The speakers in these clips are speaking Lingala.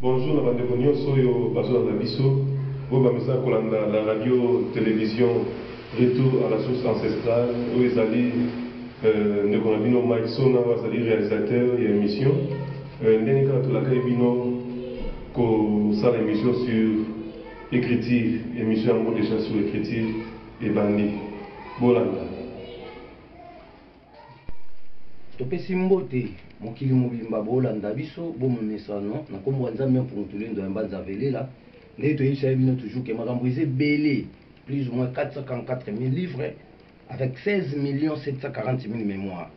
Bonjour na ba ndeko nionso oyo bazo landa biso, oyo ba mizaka kolanda la radio television retour à la source ancestrale oyo ezali ndeko na bino Mike Sona oyo azali realisateur ya emission ndenge kaka tolakaki bino ko sala emission sur ecriture emission yango dejà sur ecriture ebandi bolanda. Topesi mbote mokili mobimba bolanda biso bo momesano na kombo ya Nzambe mpungu tulendo ya mbanza velela ndenge toyebisa ye bino toujours ke makambo eza ebele plus ou moins 444 000 livres avec 16 millions 740 000 mémoires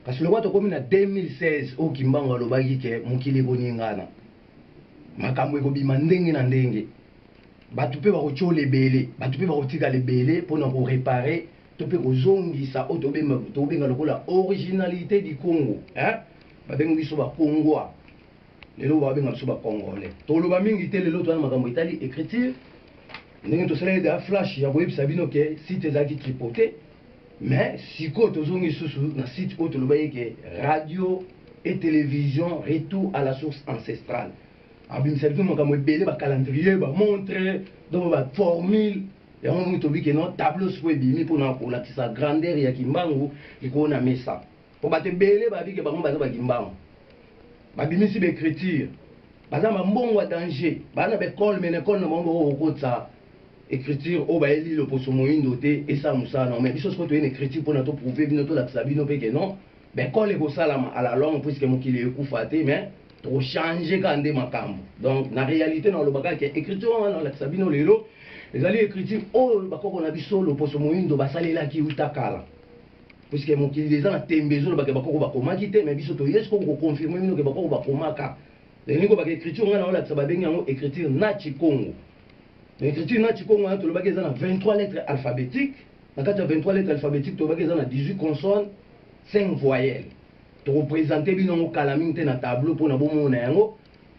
kasi lokola tokomi na 2016 oyo kimbangu alobaki ke mokili ekoningana makambo ekobima ndenge na ndenge bato mpe bakotyola ebele bato mpe bakotikala ebele mpo na korepare to mpe kozongisa oyo tobenga lokola originalite du Congo eh? babengi biso bakongwa lelo babenga biso bakongolais toloba mingi te lelo toyana makambo etali écriture ndenge tosaleli da flash ya koyebisa bino ke site ezalaki tripote mais sikoyo tozongi lisusu na site oyo tolobaki ke radio et télévision retour à la source ancestrale abimisaki makambo ebele bacalendrier bamontre donc baformule yango omoni tobi ke non tableau sikoyo ebimi mpona kolakisa grandeur ya kimbangu likolo na mesa mpo bato ebele babi ke bango baza bakimbangu babimisi baecriture baza bambongo ya danger baa na baekole me na ekole na bango bakoki kokotisa écriture oyo bayeli loposo moindo te esala mosala na yango me biso sikoyo toyei na écriture mpona toprouve bino tolakisa bino mpe ke non mais kole ekosalama à la longue puisque mokili ekufa te mais tokochange kaka nde makambo donc na réalité na oloba kaka ke écriture wana nalakisa bino lelo ezali écriture oyo bakoko na biso loposo moindo basalelaki uta kala puisque mokili eza na tembe ezolobake bakoko bakomaki te mais biso toyesi koko koconfirme bino ke bakoko bakomaka elingi kobaka écriture ngai naolakisa babengi yango écriture na chikongo na écriture na chikongo wana tolobaki eza na 23 lettres alphabétique na kati ya 23 lettre alphabetique tolobaki eza na 18 consonne 5 voyelle tokopresente bino yango kala mingi te na tableau mpo na bomona yango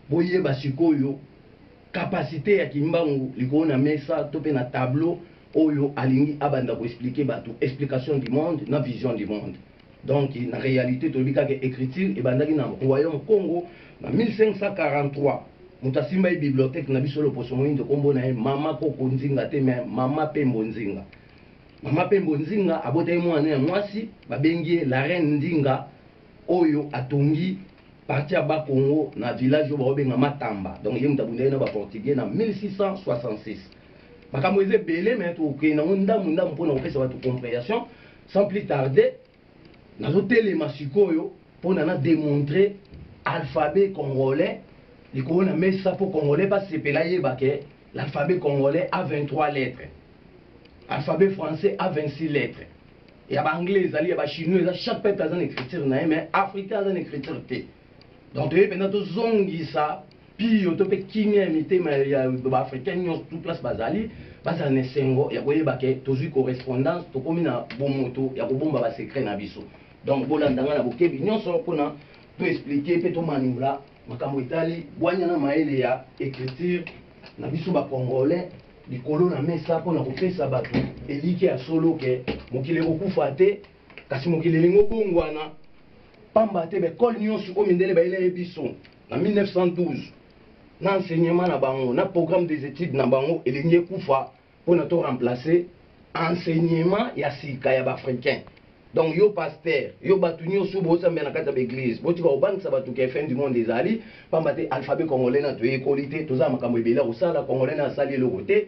boyeba sikoyo kapasite ya kimbangu likolo na mesa to mpe na tableau oyo alingi abanda koexplike bato explication du monde na vision du monde donc na réalité toyebi kaka écriture ebandaki na royaume congo na 1543 moto asimba ye bibliothèque na biso loposo moyindo nkombo na ye mama koko nzinga te me mama pembo nzinga mama pembo nzinga abotaki mwana ya mwasi babengi ye la reine ndinga oyo atongi parti ya bakongo na village oyo baobenga matamba donc ye moto abundaki na baportugais na 1666 makambo eza ebele me tokei nango ndambu ndambu mpona kopesa bato comprehension Sans plus tarder, nazo telema sikoyo pona na demontrer alphabet congolais likolo na mesa po congolais ba sepela yeba ke l'alphabet congolais a 23 lettres. Alphabet français a 26 lettres. Ya ba anglais ezali ya ba chinois eza chaque peuple aza na écriture na ye mais africain aza na écriture te. donc toyei mpenza tozongisa piyo to mpe kimia ya mitema ya baafricain nyonso tout place bazali bazala na esengo ya koyeba ke tozwi correspondance tokomi na bomoto ya kobomba basekret na biso donc bolanda ngai na bokebi nyonso mpona toexplike mpe tomaniola makambo etali bwanya na mayele ya écriture na biso bacongolais likolo na mesa mpona kopesa bato elike ya solo ke mokili ekokufa te kasi mokili elingi obongwana pamba te baekole nyonso oyo mindele bayelaki biso na 1912 na enseignement na bango na programme des études na bango elingi ekufa mpo na to remplacer enseignement ya sika ya baafricain donc yo pasteur yo bato nyonso bosambela na kati ya baeglise botika kobangisa bato ke fin du monde ezali pamba te alphabet congolais na toyekoli te toza na makambo ebele ya kosala congolais na asali eloko te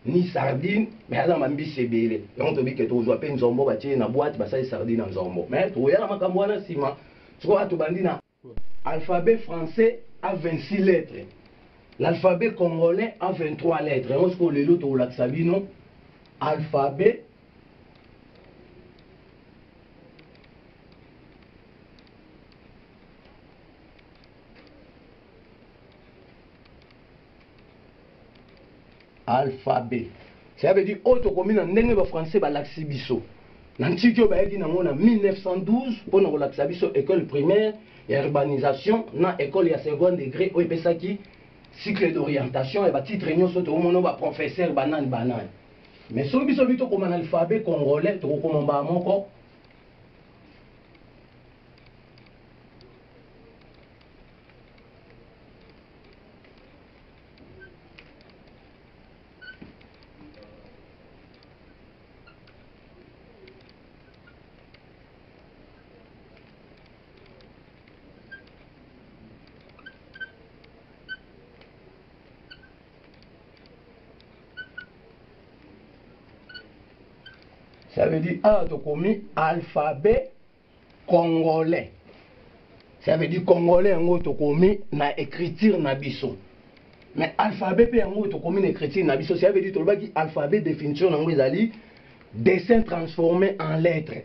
ni sardine mais aza na mbisi ebele yango tobi ke tokozwa mpe nzombo batie na boite basali sardine na nzombo mais tokoya na makambo wana nsima sikoyo tobandi na alphabet français a 26 lettres l'alphabet congolais a 23 lettres yango sikoyo lelo tokolakisa bino alphabet alphabet cela veut dire oyo tokomi na ndenge ba français balakisi biso na ntiki oyo bayaki nango na 1912 mpo na kolakisa biso école primaire ya urbanisation na école ya second degré oyo epesaki cycle d'orientation ya batitre nyonso tokomono baprofesseur banani banani mais soki biso bi tokoma na alphabet congolais tokokoma mbaa moko Ça veut dire, ah, tokomi alphabet congolais ça veut dire congolais yango tokomi na écriture na biso mais alphabet mpe yango tokomi na écriture na biso ça veut dire tolobaki alphabet définition na yango ezali dessin transformé en lettre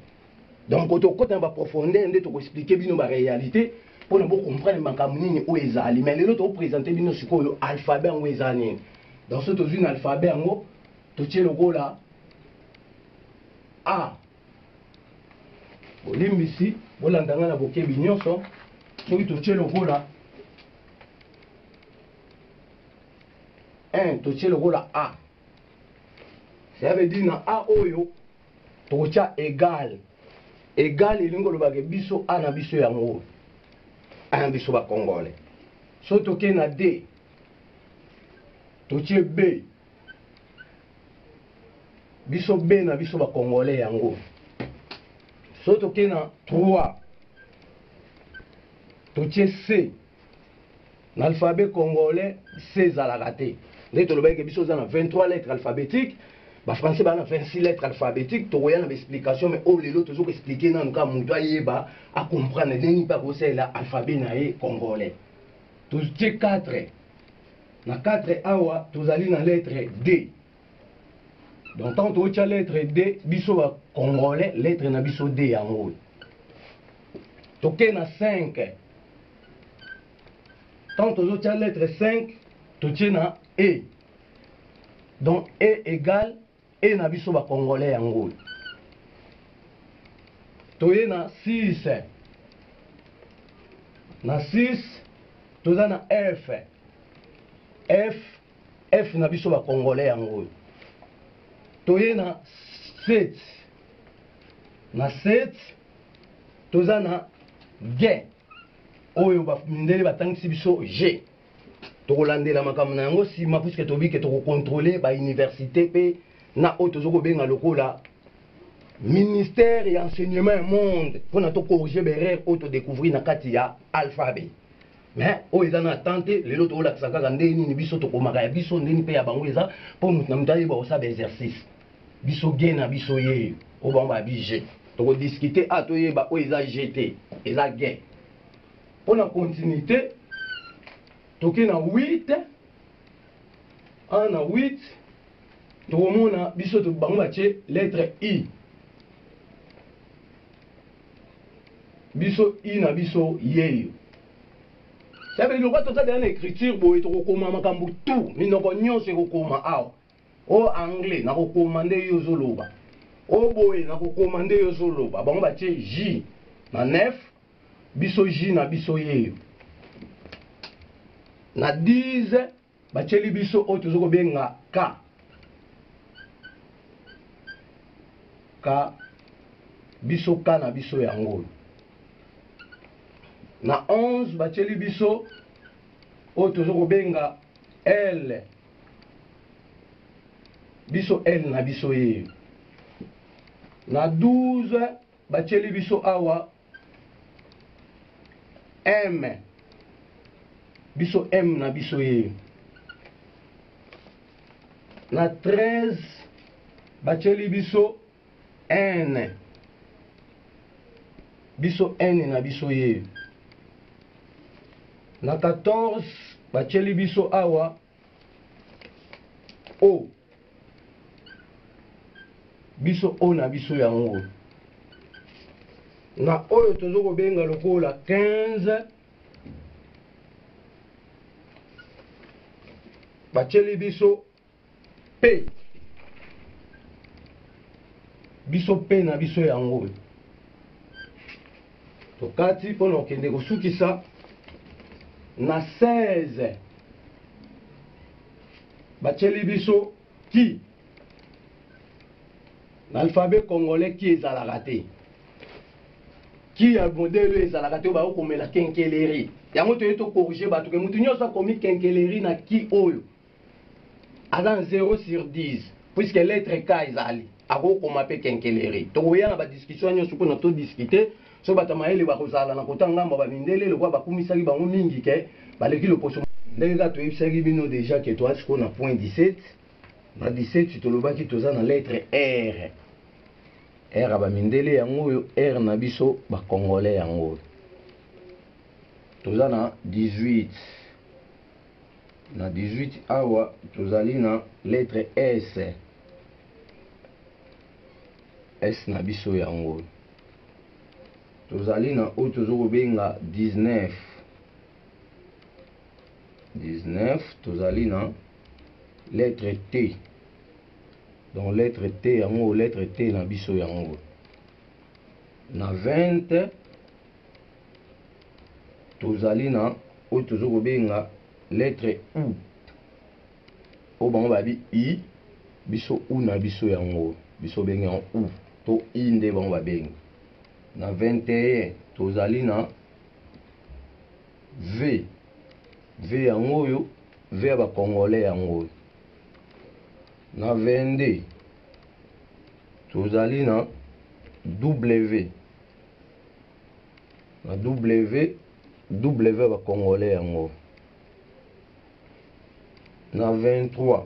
donc tokota na baprofondeur nde tokoexplike bino baréalité mpo na bocomprendre makambo nini oyo ezali mais lelo tokopresente bino sikoyo alphabet yango eza nini donc so tozwi na alphabet yango totie lokola a bolimbisi bolanda ngai na bokebi nyonso soki totie lokola un totie lokola a cela veut dire na a oyo tokotya egal egal elingi kolobake biso a na biso yango oyo a na biso bakongole so tokei na d totie b biso bena biso ba congolais yango soki tokei na 3 totie c na alphabet congolais c ezalaka te nde tolobaki ke biso oza na 23 lettre alphabétique bafrançais baa na 26 lettre alphabétique tokoya na baexplication mai oyo lelo tozo koexplike nanu kaka moto ayeba acomprendre ndenge mpe akosalela alphabet na ye congolais totie 4 Na 4 awa tozali na lettre D. Donc tant totya lettre D biso ba congolais lettre na biso D yango oyo. Toke na 5. Tant tozotya lettre 5 totye na E. Donc E égale Et na biso ba congolais ya ngulu toye na 6 na 6 toza na f f f na biso ba congolais ya ngulu toye na 7 na 7 toza na g oyo mindele batangisi biso g tokolandela makambo na yango nsima puiske tobi ke tokokontrole bauniversité mpe na oyo tozo kobenga lokola ministère ya enseignement ya monde mpona tokorrige baerreur oyo todecouvrir na kati ya alphabet mais oyo eza na atente lelo tokolakisa kaka ndenge nini biso tokomaka ya biso ndeni mpe ya bango eza mpo moto na moto ayeba kosala baexercice biso ge na biso ye oyo bango babi je tokodiskute a toyeba oyo eza je te eza ge Pour la continuité, toke na 8 1 na 8 tokomona biso to bango batie lettre i biso i na biso yeyo sabe lokola toza deya na écriture boye tokokoma makambo tout minoko nyonso ekokoma awa o anglais nakokoma nde yo ozoloba o boye nakokoma nde yo ozoloba bango batie j na 9 biso ji na biso yeyo na 10 batyeli biso oyo tozo kobenga k k biso k na biso yango oyo na 11 batyeli biso oyo tozo kobenga l biso l na biso yeyo na 12 Batieli biso awa M. Biso M na biso ye. Na 13 batieli biso N. Biso N na biso ye. Na 14 batieli biso awa o oh. biso oyo na biso yango na oyo tozo kobenga lokola 15 batyeli biso pe biso pe na biso yango tokati mpo na kokende kosukisa na 16 batyeli biso ki na alphabet congolais ki ezalaka te ki ya modele ezalaka te oyo bayo komela kenkeleri yango toye tokorige bato ke moto nyonso akomi kenkeleri na ki oyo aza na 0 sur 10 puisque lettre k ezali akokoma mpe kenkeleri tokoya na badiscussion nyonso kuna todiscute so bato ya mayele bakozala na kota ngambo ya bamindele lokola bakumisaki bango mingi ke baleki loposo ndenge kaka toyebisaki bino deja ke toa sikoyo na point 17 na 17 tolobaki toza na lettre r r ya bamindele yango oyo r na biso bacongolais yango oyo toza na 18 Na 18 awa tozali na lettre S. S na biso yango. Tozali na oyo tozo kobenga 19. 19 tozali na lettre T. Donc lettre T yango lettre T na biso yango. Na 20 tozali na oyo tozo kobenga lettre u oyo bango babi i biso u na biso yango biso bengi yango u to i nde bango babengi na 21 tozali na v v yango oyo v ya bacongolais yango oyo na 22 tozali na w na ww ya bacongolais yango na 23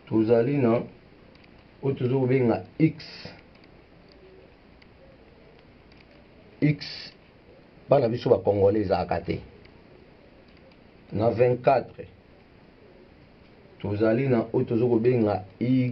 tozali na oyo toza kobenga x x bana biso bacongolais ezalaka te na 24 tozali na oyo toza kobenga y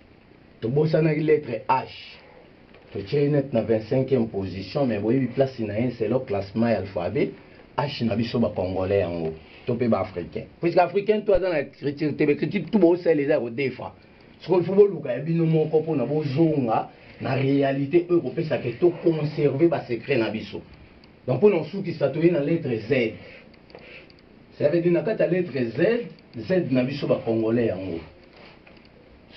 tobosanaki lettre h totie net na 25e position mais boyebi place na ye selo classement ya alphabet h na biso bacongolais yango to mpe baafricain puisque africain to aza na écriture te baécriture tu bosala eza ya kodefa soko il faut boluka ya bino moko mpona bozonga na réalité oyo ekopesa ke toconserve basecret na biso donc mpona osukisa toye na lettre z ça veut dire na kati ya lettre z z na biso bacongolais yango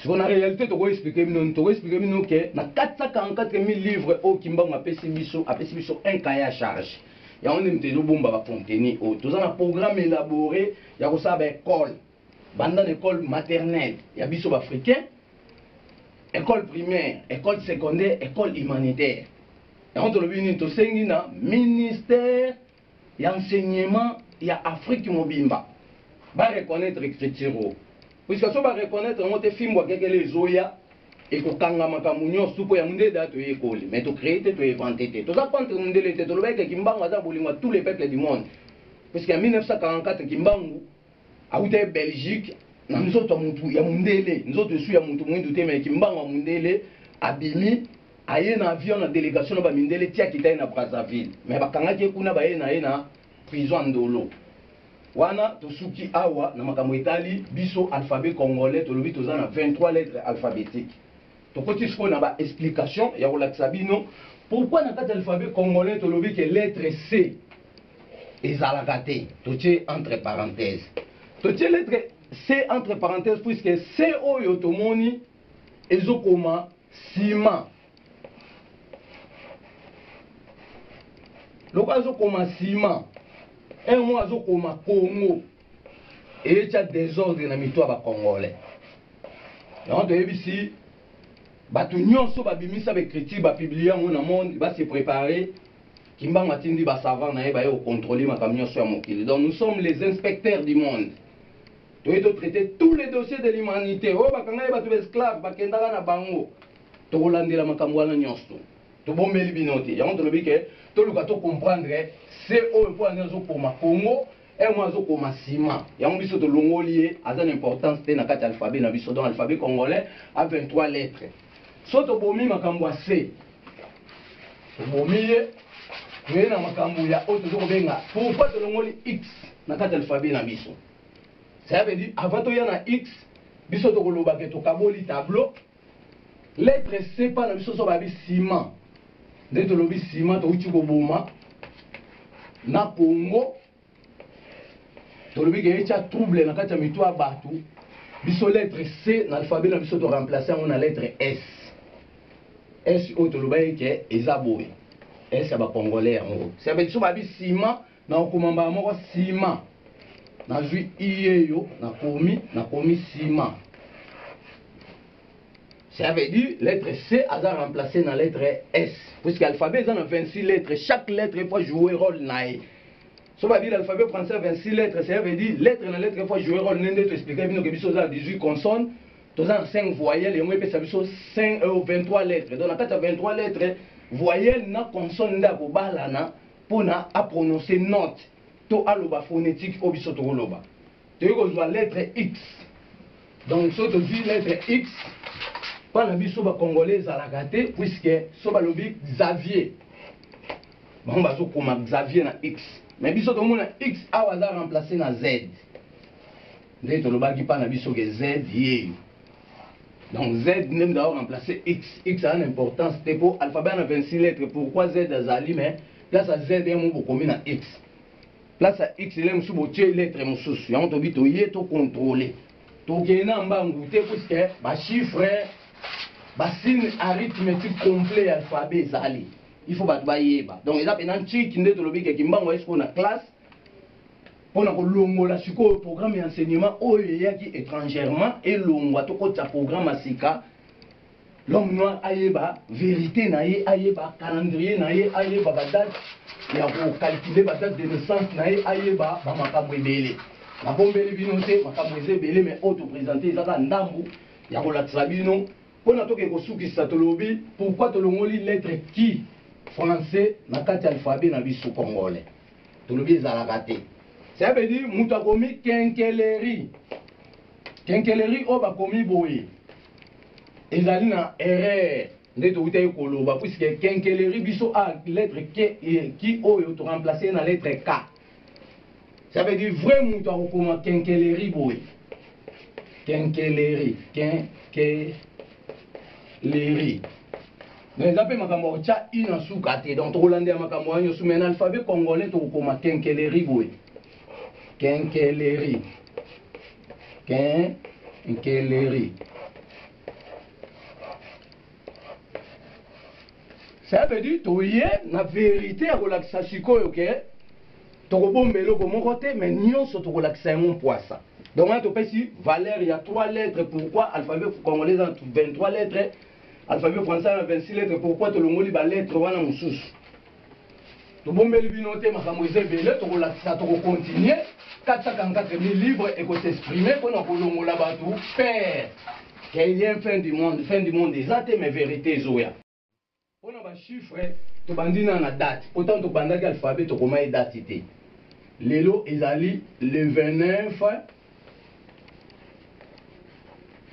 siko na réalité toko expliquer bino nini toko expliquer bino ke na 444000 livres oyo kimbangu apesi biso apesi biso un cahier à charge yango nde moto ezobomba bacontenu oyo toza na programme élaboré ya kosala baekole banda na ekole maternelle ya biso baafricain ekole primaire ekole secondaire ekole humanitaire yango tolobi nini tosengi na ministère ya enseignement ya Afrique mobimba ba reconnaître écriture oyo puisque so ba reconnaître yango te fimbo akekele ezoya ekokanga makambo nyonso tupo ya mundele da toyekoli mais tocree te toinvente te toza contre mundele te tolobaki ke kimbangu aza bolingo ya tous les peuples du monde puisque ya 1944 kimbangu awuta ye belgique na nzoto ya mutu ya mundele nzoto esu ya mutu mwindu te me kimbangu ya mundele abimi aye na avion na delegation na bamindele ti akita ye na brazzaville me bakangaki ye kuna baye na ye na prison ya ndolo wana tosuki awa na makambo etali biso alphabet congolais tolobi toza na 23 lettre alphabetique tokoti sikoyo na baexplication ya kolakisa bino pourquoi na kati ya alphabet congolais tolobi ke lettre c ezalaka te totie entre parenthèse totie lettre c entre parenthèse puisque c oyo tomoni ezokoma nsima loko azokoma nsima un mo azokoma congo eyetya desordre na mito ya bacongolais yango toyebisi bato nyonso babimisa baécriture bapublie yango na monde base prépare Kimbangu atindi ba savants na ye baye ko contrôler makambo nyonso ya mokili. Donc nous sommes les inspecteurs du monde. Toye to traiter tous les dossiers de l'humanité. Oyo bakanga ye bato ba esclaves bakendaka na bango. Tokolandela makambo wana nyonso. Tobombeli bino te. Yango tolobi ke toluka to comprendre se oyo mpo azo koma Congo un mois azo koma sima yango biso tolongoli ye aza na importance te na kati ya alphabet na biso donc alphabet congolais a 23 lettres so tobomi makambo ya se tobomi ye toye na makambo ya oyo tozo kobenga pourquoi tolongoli x na kati ya alphabet na biso ça veut dire avant toya na x biso tokolobake tokaboli tableau Lettre C pa na biso so babi ciment. Nde tolobi ciment towuti koboma na Congo tolobi ke etya trouble na kati ya mitu ya bato biso lettre c na alphabet na biso toremplace yango na lettre s s oyo tolobaki ke eza boye s ya bacongolais yango se biso babi sima Nakokoma mbala moko sima. Nazwi iyeyo, nakomi, nakomi sima. Ça veut dire lettre C aza remplacé na lettre S. Puisque l'alphabet eza na 26 lettres, chaque lettre faut jouer rôle na ye. So ba dire l'alphabet français a 26 lettres, ça veut dire lettre na lettre faut jouer rôle nende to expliquer bino que biso za 18 consonnes, toza na 5 voyelles yango epesa biso 5 euh, 23 lettres. Donc na kati ya 23 lettres, voyelle na consonne nda ko balana pona a prononcer note to aloba phonetique oyo biso tokoloba toyei kozwa lettre x donc soki tozwi lettre x mpo na biso bacongolais ezalaka te puiske so balobi xavier bango bazokoma xavier na x mais biso tomona x awa aza remplace na z nde tolobaki mpa na biso ke z yeyo donc z nde mutu ao remplacer x x aza na importance te mpo alphabet na 26 lettre pourquoi z azali mais place ya z yango bokomi na x place ya x ele mosusu botie lettre mosusu yango tobi toye tocontrole tokende na mbangu te puiske bachiffre basine arithmetique complet ya alphabet ezali il faut bato bayeba donc eza mpenza ntiki nde tolobi ke kimbangu ayesikoyo na classe mpo na kolongola sikoyo programme ya enseignement oyo eyaki étrangèrement elongwa tokotisa programme ya sika l'homme noir ayeba verité na ye ayeba calendrier na ye ayeba badate ya kokalkile badate de naissance na ye ayeba bamakambo ebele nabombeli bino te makambo eza ebele mai oyo topresente ezaka ndambu ya kolakisa bino mpo na toke kosukisa tolobi pourkui tolongoli lettre ki français na kati ya alphabet na biso congolais tolobi ezalaka te ça veut dire moto akomi kenkeleri kenkeleri oyo bakomi boye ezali na erreur nde towutaki koloba puisque kenkeleri biso a lettre k e, ki oyo toremplace na lettre k ça veut dire vrai moto akokoma kenkeleri boye kenkeleri kenkeleri mais eza mpe makambo ya kotya i na suka te donc tokolandela makambo wana nyonso mais na alphabet congolais tokokoma kenkeleri boye kenkeleri kenkeleri ça veut dire toye na verité ya kolakisa sikoyo ke tokobomba eloko moko te mais nyonso tokolakisa yango mpwasa donc wana topesi valeur ya 3 lettres pourquoi alphabet congolais eza na 23 lettres Alphabet français na 26 lettres pourquoi tolongoli ba lettres wana mosusu? Tobombeli bino te makambo eza ebele tokolakisa tokocontinue 444 000 livres ekosexprime mpo na kolongola bato père kailien fin du monde fin du monde eza te mais verité ezoya mpo na bachiffre tobandi na na date mpo ntango tobandaki alphabet tokoma ye date te lelo ezali le 29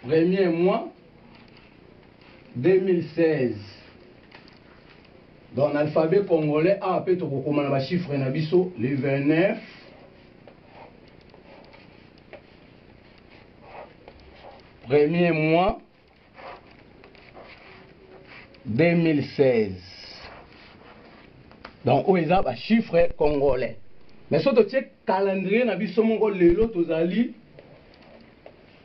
premier mois 2016 donc na alphabet congolais awa mpe tokokoma na bachiffre na biso le 29 premier mois 2016 donc oyo eza bachiffre congolais mais so totie calendrier na biso moko lelo tozali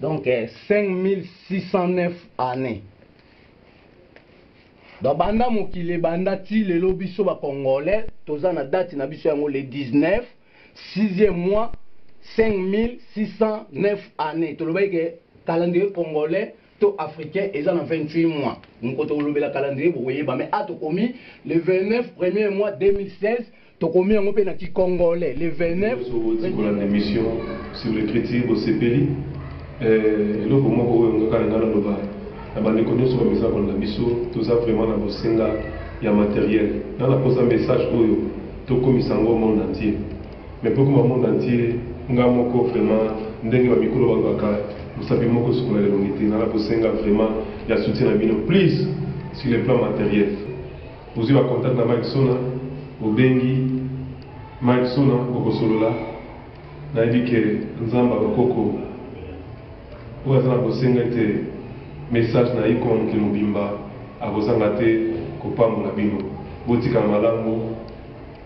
donc 5609 année donc banda mokili ebanda ti lelo biso bacongolais toza na date na biso yango le 19 6e mois 5609 année tolobaki ke calendrier congolais to africain eza na 28 mois moko tokolobela calendrier bokoyeba mais a tokomi le 29 premier mois 2016 tokomi yango mpe na kikongole le 29 émission sur l'écriture bosepeli eh, eloko moko oyo ngaka na ngai naloba na bandeko nyonso bamisa kolanda biso toza vraiment na bosenga ya materiel na naposa message oyo tokomisa yango monde entier Mais poko ma monde entier nga moko vraiment ndenge ba mikolo babaka mosapi moko sukola lelongi te nana kosenga vraiment ya soutien na bino please sur le plan matériel bozwi ba contact na Mike Sona bobengi Mike Sona bokosolola nayebi ke nzambe bakoko oyo aza na bosenga ete message na iko mokili mobimba akozanga te kopambola bino botika malamu